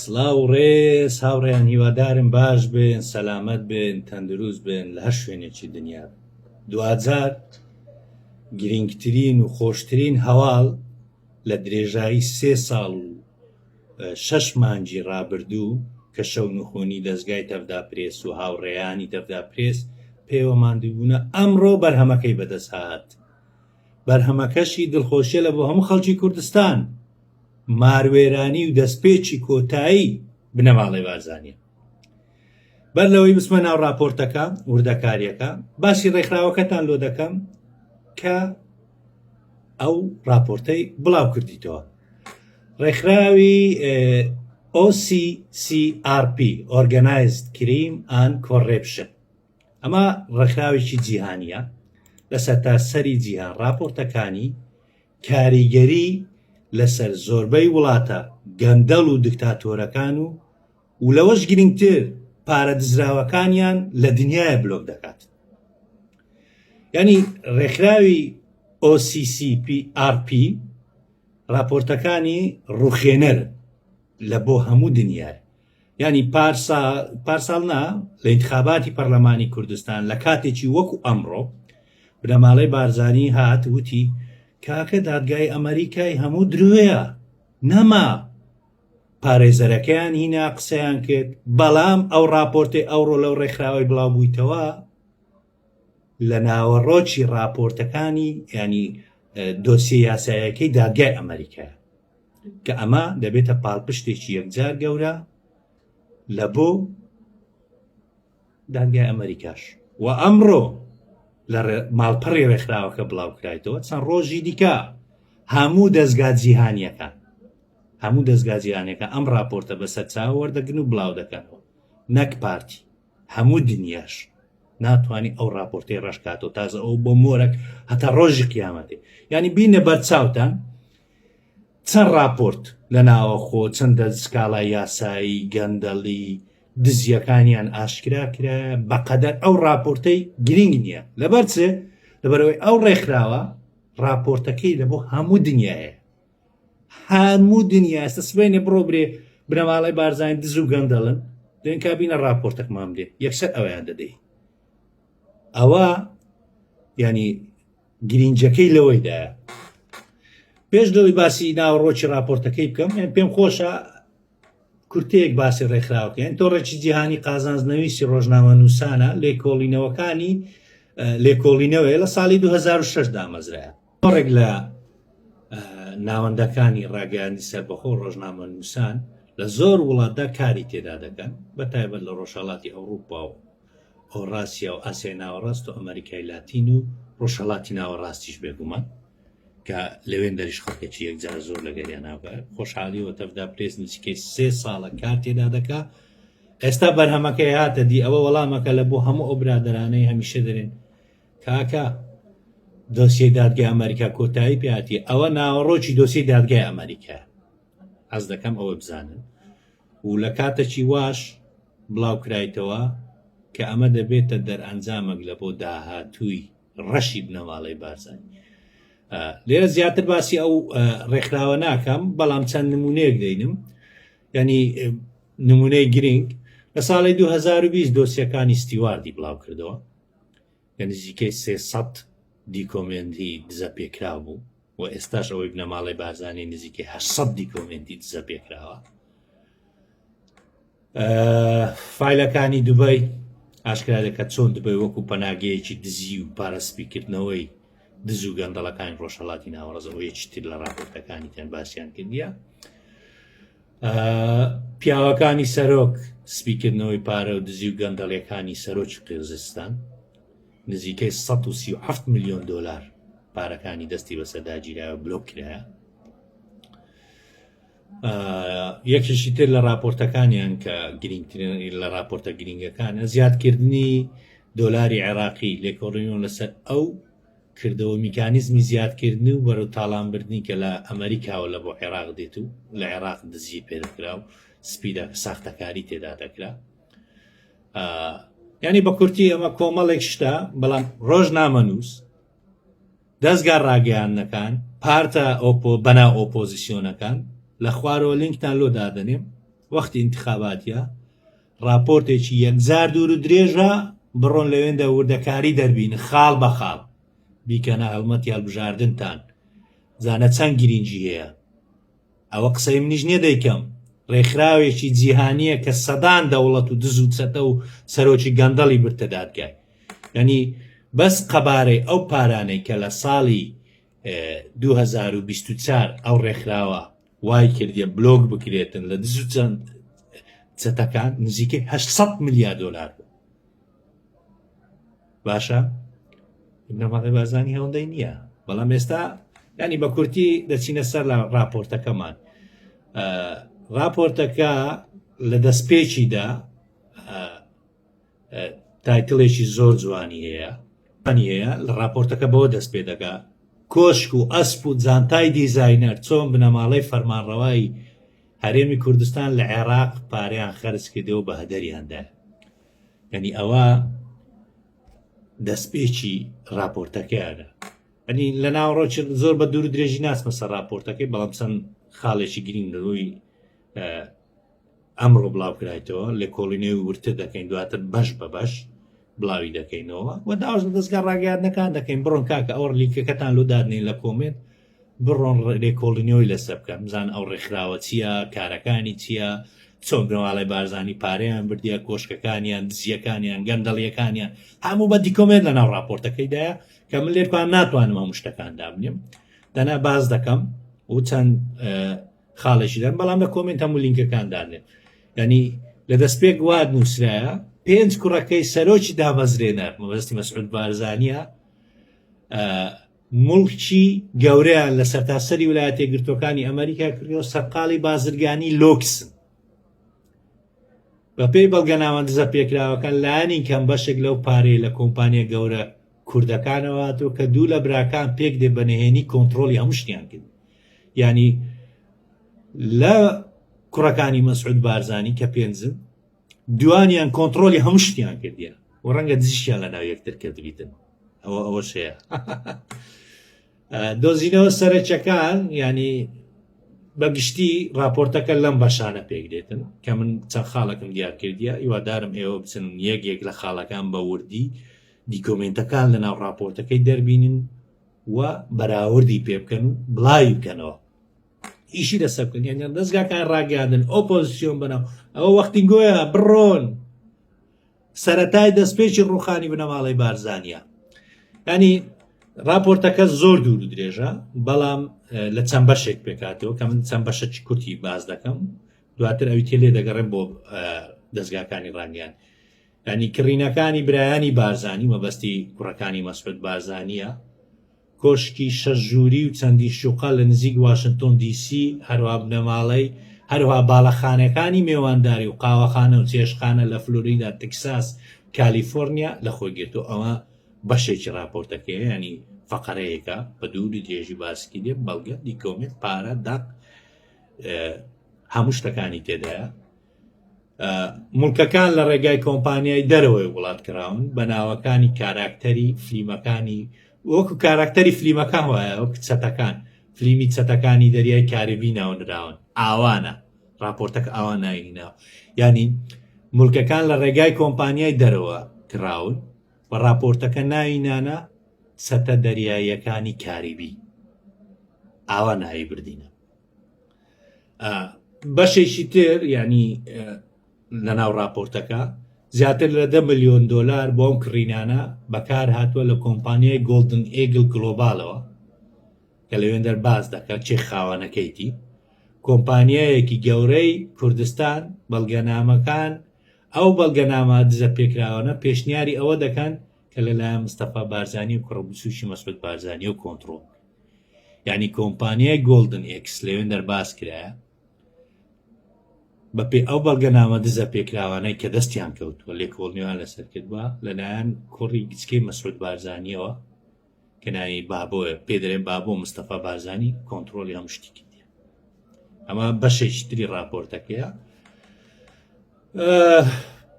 سلااو و ڕێز هاوڕێیان هیوادارم باش بن سەلامت بن تەندروست بن لە هەر شوێنێکی دنیا دوجار گرنگترین و خۆشترین هەواڵ لە درێژایی سێ ساڵ و شەش مانجی ڕابردوو کە شەو نخۆنی دەستگای تەفدا پرێس و هاوڕێیانی تەفدا پرێس پێوەماندوبوونە ئەمڕۆ بەرهەمەکەی بەدەست هاات بەرهەمەکەشی دڵخۆشیە لە بۆ هەموو خەڵکی کوردستان ماروێرانی و دەستپێکی کۆتایی بنەماڵەی بارزانیە بەر لەوەی بسمە ناو راپۆرتەکە وردەکاریەکە باسی ڕێکخراوەکەتان لۆ دەکەم کە ئەو راپۆرتەی بڵاو کردیتەوە ڕێکخراوی OCCRP Organized Crime and Corruption ئەمە ڕێکخراوێکی جیهانیە لە سەرتاسەری جیهان ڕاپۆرتەکانی کاریگەری لەسەر زۆربەی وڵاتە گەندەڵ و دکتاتۆرەکان و و لەوەش گرنگتر پارە دزراوەکانیان لە دنیاە بلۆک دەکات ینی ڕێکخراوی OCCPRP راپۆرتەکانی ڕوخێنەر لە بۆ هەموو دنیاە یانی پارسا پارساڵ نا لە ئینتخاباتی پەرلەمانی کوردستان لە کاتێکی وەکو ئەمڕۆ بنەماڵەی بارزانی هات وتی کاکە دادگای ئەمریکای هەموو درۆیە نەما پارێزەرەکەیان هینا قسەیان کرد بەڵام ئەو راپۆرتی ئەوڕۆ لەو ڕێکخراوەی بڵاو بوویتەوە لە ناوەڕۆکی ڕاپۆرتەکانی ینی دۆسیە یاسایەکەی دادگای ئەمریکا کە ئەمە دەبێتە پاڵپشتێکی یەکجار گەورە لە بۆ دادگای ئەمریکاش و ئەمڕۆ لە ماڵپەڕی ڕێکخراوەکە بڵاوکرایتەوە چەند ڕۆژی دیکە هەموو دەستگا جیهانیەکان هەموو دەستگا جیهانەکە ئەم راپۆرتە بەسەر چاوەوەردەگرن و بڵاو دەکەنەوە نەک پارتی هەموو دنیاش ناتوانانی ئەو راپۆرتی ڕشکاتەوە تازە ئەو بۆ مۆرەک هەتا ڕۆژی قیامەتێ ینی بینە بەر چاوتان چەند راپۆرت لە ناوەخۆ چەندە سکاڵای یاسایی گەندەڵی دزیەکانیان ئاشکرا کرا بەقەدەر ئەو راپۆرتەی گرنگ نییە لەبەرچێ لەبەرەوەی ئەو ڕێکخراوە راپۆرتەکەی لە بۆ هەموو دنیاە هەموو دنیا ئێستا سبەینێ بڕۆ برێ بنەماڵەی بارزانانی دز و گەندەڵن دێن کابینە راپۆرتەکمان بدێ یەکسەر ئەویان دەدەی ئەوە ینی گرینجەکەی لەوەیدا پێش لەوەی باسی ناوەڕۆکی راپۆرتەکەی بکەم یان پێم خۆشە کورتەیەک باسی ڕێکخراوکەن تۆ ڕێکی جیهانی قازانزنەویستی ڕۆژنامە نووسانە لێکۆڵینەوەکانی لێکۆڵینەوەی لە ساڵی 2006 دامەزرایە زۆرێک لە ناوەندەکانی ڕاگەیاندنی سەربەخۆ و ڕۆژنامەنووسان لە زۆر وڵاتدا کاری تێدا دەکەن بە تایبەت لە ڕۆژهەڵاتی ئەوروپا و ئۆڕاسیا و ئاسیای ناوەڕاست و ئەمریکای لاتین و ڕۆژهەڵاتی ناوەڕاستیش بێگومان کە لەوێن دەریش خەڵکێکی یەکجار زۆر لەگەریان ناوگە خۆشحالی وەتەفدا پرێس نزیکەی سێ ساڵە کار تێدا دەکا ئێستا بەرهەمەکەی هاتە دی ئەوە وەڵامەکە لە بۆ هەموو ئەو برادرانەی هەمیشە دەرێن کاکە دۆسیەی دادگای ئەمەریکا کۆتایی پێاتی ئەوە ناوەڕۆکی دۆسیی دادگای ئەمەریکا ئەز دەکەم ئەوە بزانن و لە کاتەکی واش بڵاو کرایتەوە کە ئەمە دەبێتە دەرئەنجامێک لە بۆ داهاتووی ڕەشی بنەماڵەی بارزانانی لێرە زیاتر باسی ئەو ڕێکخراوە ناکەم بەڵام چەند نمونەیەک دەینم ینی نمونەی گرنگ لە ساڵی 2020 دۆسیەکانی ستیواردی بڵاو کردەوە کە نزیکەی سێ سەد دیکۆمێنتی دزەپێکراو بوو و ئێستاش ئەوەی بنەماڵەی بارزانی نزیکەی هە سەد دیکۆمێنتی دزەپێکراوە فیلەکانی دوبای ئاشکرا دەکات چۆن دبی وەکو پەناگەیەکی دزی و پارەسپیکردنەوەی دز و گەندەڵەکانی ڕۆژهڵاتی ناوەڕزەوەیەکی تر لە ڕاپۆرتەکانی تەن باسییان کردیە پیاوەکانی سەرۆک سپیکردنەوەی پارە و دزی و گەندەڵیەکانی سەرۆکی قێزستان نزیکەی 1970 میلیۆن دلار پارەکانی دەستی بەسەرداگیرا و بلۆک کرایە یەکیشی تر لە راپۆرتەکانیان کە گرنگترین لە راپۆرتە گرنگەکانە زیادکردنی دۆلاری عێراقی لێکۆڕینەوە لەسەر ئەو کردەوە میکانیزمی زیادکردنی و بەرەو تاڵانبردنی کە لە ئەمەریکاوە لە بۆ عێراق دێت و لە عێراق دزی پێدەکرا و سپیدا ساختەکاری تێدا دەکرا ینی بە کورتی ئەمە کۆمەڵێک شتە بەڵام ڕۆژ نامەنووس دەستگا ڕاگەیاندنەکان پارتە ئۆپۆ بەنا ئۆپۆزیسیۆنەکان لە خوارەوە لینکتان لۆ دادەنێم وەختی انتخاباتە ڕاپۆرتێکی یەکجار دوور و درێژە بڕۆن لەوێندە وردەکاری دەربین خاڵ بە خاڵ بیکەنە هەڵمەتی هەڵبژاردنتان زانە چەند گرینگی هەیە ئەوە قسەی منیش نیە دەیکەم ڕێکخراوێکی جیهانیە کە سەدان دەوڵەت و دز و چەتە و سەرۆکی گەندەڵی برتە دادگای ینی بەس قەبارەی ئەو پارانەی کە لە ساڵی 2024 ئەو ڕێکخراوە وای کردیە بلۆک بکرێتن لە دز و چەند چەتەکان نزیکەی 800 میلیارد دلار بوو باشە نەماڵی بازانی هەوڵدەی نییە بەڵام ئێستا ینی بە کورتی دەچینە سەر لە راپۆرتەکەمان راپۆرتەکە لە دەستپێکیدا تایتلێکی زۆر جوانی هەیە پانی هەیە لە راپۆرتەکە بەوە دەست پێ دەکا کۆشک و ئەسپ و جانتای دیزاینەر چۆن بنەماڵەی فەرمانڕەوایی هەرێمی کوردستان لە عێراق پاریان خەرج کردێ و بەهدەریاندا یعنی ئەوە دەستپێکی راپۆرتەکەیانە ئەنی لە ناوڕۆچ زۆر بە دوور درێژی ناسمەسە راپۆرتەکەی بەڵام چەند خاڵێکی گرنگ ڕووی ئەمڕۆ بڵاوکرایتەوە لێکۆڵینەوەی ورتر دەکەین دواتر بەش بە بەش بڵاوی دەکەینەوە و داواش لە دەستگا ڕاگەیاندنەکان دەکەین بڕۆن کاکە ئەوە لیکەکەتان لۆ دادنین لە کۆمێنت بڕۆن لێکۆڵینەوەی لەسەر بکەن بزان ئەو ڕێکخراوە چییە کارەکانی چییە چۆن گەواڵی بارزانانی پارەیان بردیە کۆشکەکانیان دزیەکانیان گەندەڵیەکانیان هەموو بە دیکۆمێت لە ناو راپۆرتەکەیدایە کە من لێکوان ناتوانم هەموو شتەکان دابنێم دەنا باز دەکەم و چەند خاڵێکی دەن بەڵام لە کۆمنت هەموو لینکەکان دانێت ینی لە دەست پێک واد نووسراە پێنج کوڕەکەی سەرۆکی دامەزرێنە مەبەستی مەسعود بارزانە مڵکی گەورەیان لە سەرتاسەری ویلایەتە گرتوەکانی ئەمریکا کردەوە سەرقاڵی بازرگانی لۆکسن بەپێی بەڵگەناوەندزە پێکراوەکان لایانی کەم بەشێک لەو پارەی لە کۆمپانیا گەورە کوردەکانەوە هاتوە کە دوو لە براکان پێک دێ بە نهێنی کۆنتترۆلی هەموو شتیان کرد ینی لە کوڕەکانی مەسعود بارزانانی کە پێنجن دوانیان کۆنتترۆلی هەموو شتیان کردیە و ڕەنگە دزیشیان لە ناو یەکتر کردبیتن ئەوە ئەوە شەیە دۆزینەوە سەرچەکان ینی بەگشتی راپۆرتەکە لەم بەشانە پێک دێتن کە من چەند خاڵەکەم دیارکردە هیوادارم ئێوە بچن یەک یەک لە خاڵەکان بە وردی دیکۆمێنتەکان لەناو ڕاپۆرتەکەی دەربینن و بەراوردی پێ بکەن و بڵاوی بکەنەوە ئیشی لەسەر بکەن یان دەستگاکان ڕاگەاندن ئۆپۆزیسیۆن بنەوە ئەوە وەختی گۆیە بڕۆن سەتای دەستپێکی ڕوخانی بنەماڵی بارزانە ینی راپۆرتەکە زۆر دوور و درێژە بەڵام لە چەند بەشێک پێکاتەوە کە من چەند بەشە کورتی باز دەکەم دواتر ئەوی تێ لێ دەگەڕێن بۆ دەستگاکانی ڕانیان یانی کڕینەکانی برایانی بارزانی مەبەستی کوڕەکانی مەسعود بارزانیە، کۆشکی شەش ژووری و چەندی شوقە لە نزیک واشنتۆن دی سی، هەروها بنەماڵەی هەروها باڵەخانەکانی مێوانداری و قاوەخانە و چێشتخانە لە فلۆریدا، تکساس، کالیفۆرنیا لە خۆی گرتووە. ئەمە بەشێکی ڕاپۆرتەکەیە یانی فەقەرەیەکە بە دووری درێژی باسکی دێ بەڵگە دیکۆمێت پارە دەق هەموو شتەکانی تێدایە. مڵکەکان لە ڕێگای کۆمپانیای دەرەوەی وڵات کراون بە ناوەکانی کاراکتەری فلیمەکانی وەکو کاراکتەری فلیمەکان وایە وەک چەتەکان فلیمی چەتەکانی دەریای کاربی ناونراون ئاوانە راپۆرتەک ئاوا ناوی ناو ینی ملکەکان لە ڕێگای کۆمپانیای دەرەوە کراون و راپۆرتەکە ناوی نانە سەتە دەریاییەکانی کاریبی ئاوا ناوی بردینە بەشێکی تر ینی لەناو راپۆرتەکە زیاتر لە دە ملیۆن دلار بۆم کڕینانە بەکار هاتووە لە کۆمپانیای گۆلدن ئێگل گلۆبالەوە کە لەوێن دەرباز دەکات چێ خاوەنەکەیتی کۆمپانیایەکی گەورەی کوردستان بەڵگەنامەکان ئەو بەڵگەنامە دزە پێکراوانە پێشنیاری ئەوە دەکەن کە لەلایەن مستەفا بارزانانی و کوڕبسوشی مەسود بارزانانی و کۆنتترۆل یانی کۆمپانیای گۆڵدن ئێکس لەوێندەر باس کرایە بەپێی ئەو بەڵگەنامە دزە پێکراوانەی کە دەستیان کەوتووە لێکۆڵنیوان لەسەر کردووە لەلایەن کوڕی گچکەی مەسعود بارزانانیەوە کە ناوی بابۆە پێدرێن بابۆ مستەفا بارزانانی کۆنتترۆلی هەم شتی کردی ئەمە بەشێکتری راپۆرتەکەیە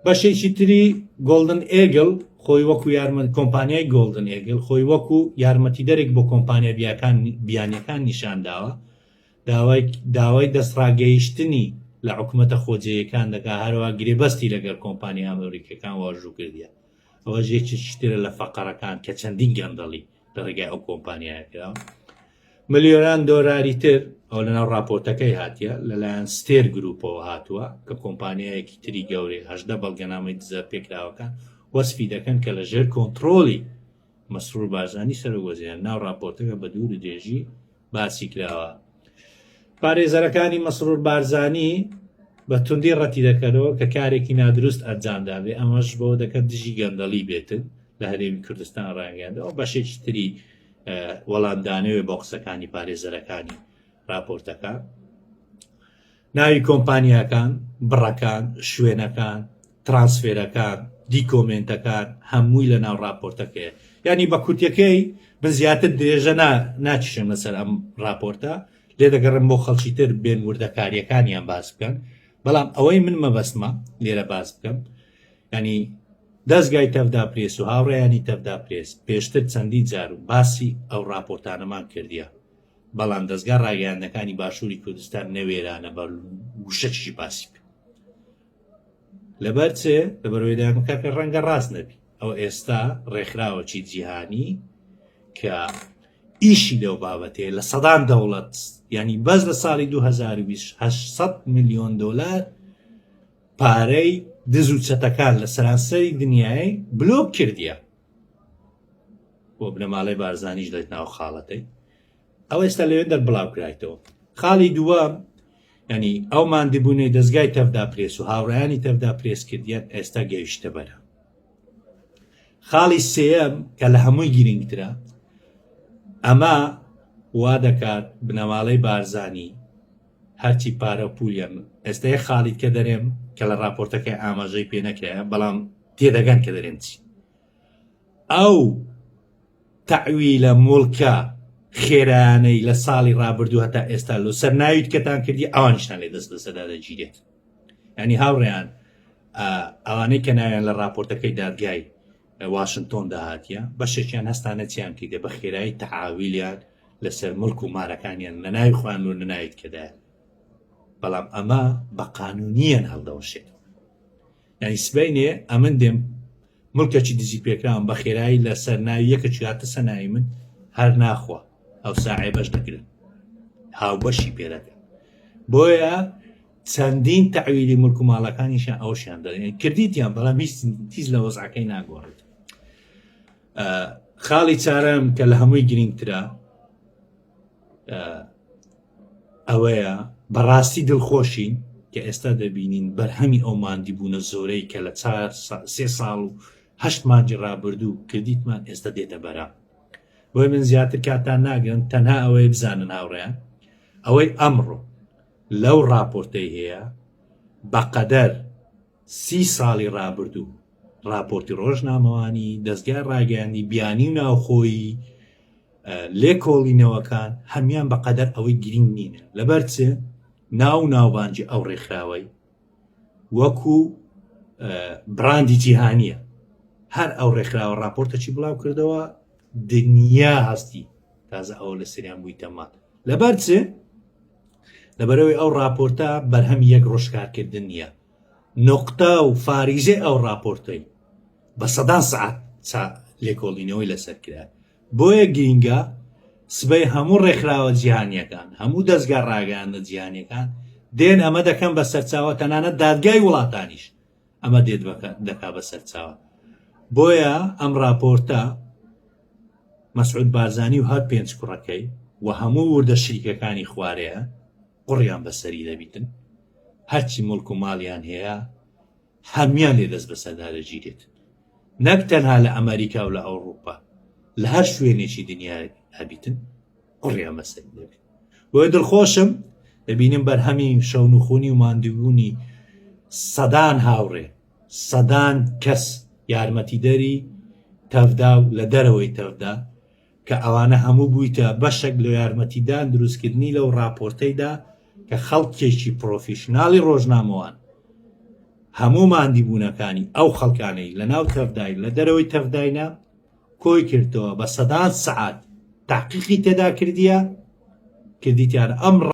بەشێکی تری گۆلدن ئێگل خۆی وەکو یارمەند کۆمپانیای گۆلدن ئێگل خۆی وەکو یارمەتی دەرێک بۆ کۆمپانیا بیاکان بیانەکان نیشانداوە داوای داوای دەستڕاگەیشتنی لە حکوومەتە خۆجێیەکان دەکا هەروە گرێبەستی لەگەر کۆمپانیا ئەمریکەکان واژوو کردیە ئەوە ژێکی شتێرە لە فەقەرەکان کە چەندین گەندەڵی لە ڕێگای ئەو کۆمپانیایە کرا ملیۆران دۆراری تر ئەو لەناو راپۆرتەکەی هاتیە لەلایەن ستێر گروپەوە هاتووە کە کۆمپانیایەکی تری گەورەی هەشدە بەڵگەنامەی دزە پێکراوەکان وەسفی دەکەن کە لە ژێر کۆنتترۆلی مەسرور بارزانانی سەرۆک وەزیران ناو راپۆرتەکە بە دوور و درێژی باسی کراوە پارێزەرەکانی مەسرور بارزانی بە توندی ڕەتی دەکەنەوە کە کارێکی نادروست ئەنجامدابێ ئەمەش بۆ دەکەن دژی گەندەڵی بێتن لە هەرێمی کوردستان ڕاگەیاندەوە بەشێکی تری وەڵامدانەوێ بۆ قسەکانی پارێزەرەکانی راپۆرتەکە ناوی کۆمپانیاکان، بڕەکان، شوێنەکان، ترانسفێرەکان، دیکۆمێنتەکان هەمووی لە ناو ڕاپۆرتەکەیە. یانی بە کورتەکەی بە زیاتر درێژە نا ناکیشم لەسەر ئەم ڕاپۆرتە، لێ دەگەڕم بۆ خەڵکی تر بێن وردەکاریەکانیان باس بکەن، بەڵام ئەوەی من مەبەستمە لێرە باس بکەم، ینی دەستگای تەڤدا پرێس و هاوڕێیانی تەڤدا پرێس پێشتر چەندین جار و باسی ئەو ڕاپۆرتانەمان کردیە. بەڵام دەزگا ڕاگەیاندەکانی باشووری کوردستان نەوێرانە بە وشەچی باسی بکە لەبەر چێ لەبەرەوەی دامکاکە ڕەنگە ڕاست نەبی ئەو ئێستا ڕێکخراوەکی جیهانی کە ئیشی لەو بابەتەیە لە سەدان دەوڵەت ینی بەس لە ساڵی 2020 میلیۆن دلار پارەی دز و چەتەکان لە سەرانسەری دنیای بلۆک کردیە بۆ بنەماڵەی بارزانیش دەێت ناو خاڵەکەی ئەو ئێستا لەوێ دەربڵاوکرایتەوە خاڵی دووەم ینی ئەو مادیبوونەی دەستگای تەفدا پرێس و هاوڕیانی تەفدا پرێس کردیان ئێستا گەیشتە بەرە خاڵی سم کە لە هەمووی گرنگترە ئەمە وا دەکات بنەماڵەی بارزانی هەرچی پارە و پولی هەن ئێستەیە خالید کە دەرێم کە لە راپۆرتەکەی ئاماژەی پێ نەکرایە بەڵام تێدەگەن کە دەرێم چی ئەو تەعویلە مڵکە خێرانەی لە ساڵی رابردوو هەتا ئێستا لۆ سەر ناویت کەتان کردی ئەوانشتان لێ دەست بەسەدا دەگیرێت ینی هاوڕێیان ئەوانەی کە ناویان لە راپۆرتەکەی دادگای واشنتۆن داهاتیە بەشێکیان هەستانە چیان کردە بە خێرایی تەعاویلیان لەسەر ملک و مارەکانیان لە ناوی خوان و نەناویت کەدا بەڵام ئەمە بە قانونیان هەڵدەوەشێت یعنی سبینێ ئەمن دێم ملکەچی دزی پێکراوم بە خێرایی لەسەر ناوی یەکە چاتە سەناوی من هەر ناخوا ئەو ساعێ بەش دەگرن هاوبەشی پێدەکەن بۆیە چەندین تەعویلی ملک و ماڵەکانیشیان ئەوشیان دەێن کردیتیان بەڵام هیچ تیز لە وەزعەکەی ناگۆڕێت خاڵی چارم کە لە هەمووی گرنگترە ئەوەیە بەڕاستی دڵخۆشین کە ئێستا دەبینین بەرهەمی ئەو مادی بوونە زۆرەی کە لە سێ ساڵ و هەشت مانجی ڕابردوو کردیتمان ئێستا دێتە بەرە بۆی من زیاتر کاتان ناگرن تەنها ئەوەی بزانن هاوڕێیان ئەوەی ئەمڕۆ لەو ڕاپۆرتەی هەیە بەقەدەر سی ساڵی ڕابردوو ڕاپۆرتی ڕۆژنامەوانی، دەزگای ڕاگەیاندی بیانی و ناوخۆیی، لێکۆڵینەوەکان هەموان بەقەدەر ئەوەی گرینگ نینە، لەبەرچ ناو و ناوبانگی ئەو ڕێکخراوەی، وەکو براندی جیهانیە هەر ئەو ڕێکخراوە راپۆرتەچی بڵاو کردەوە دنیا هەستی تازە ئەوە لە سریان بووی تەمان لەبەر چ لەبەرەوەی ئەو راپۆرتە بەرهەم یەک ڕۆژکارکردن نیە نقطە و فاریزەی ئەو راپۆرتەی بە سەدان سعات لێکۆڵینەوەی لەسەر کرا بۆیە گرینگە سبەی هەموو ڕێکخراوە جیهانیەکان هەموو دەستگا ڕاگەیاندە جیهانیەکان دێن ئەمە دەکەم بە سەرچاوە تەنانە دادگای وڵاتانیش ئەمە دێت دەکا بە سەرچاوە بۆیە ئەم راپۆرتە مەسعود بارزانی و هەر پێنج کوڕەکەی و هەموو وردە شریکەکانی خوارەیە قڕیان بەسەری دەبیتن هەرچی مڵک و ماڵیان هەیە هەمیان لێ دەست بەسەردارەجی دێت نەک تەنها لە ئەمەریکا و لە ئەوڕوپا لە هەر شوێنێکی دنیا هەبیتن قڕیا مەسەری دەبێت بۆیە دڵخۆشم دەبینم بەرهەمی شەون و خونی و ماندوونی سەدان هاوڕێ سەدان کەس یارمەتیدەری تەفدا و لە دەرەوەی تەفدا کە ئەوانە هەموو بوویتە بەشەک لە یارمەتیدان دروستکردنی لەو ڕاپۆرتەیدا کە خەڵکێکی پرۆفیشناڵی ڕۆژنامەوان هەموو ماندیبوونەکانی ئەو خەڵکانەی لە ناو تەفداین لە دەرەوەی تەفداینە کۆی کردەوە بە سەدان سعات تاقیقی تێدا کردیە کردیتیان ئەم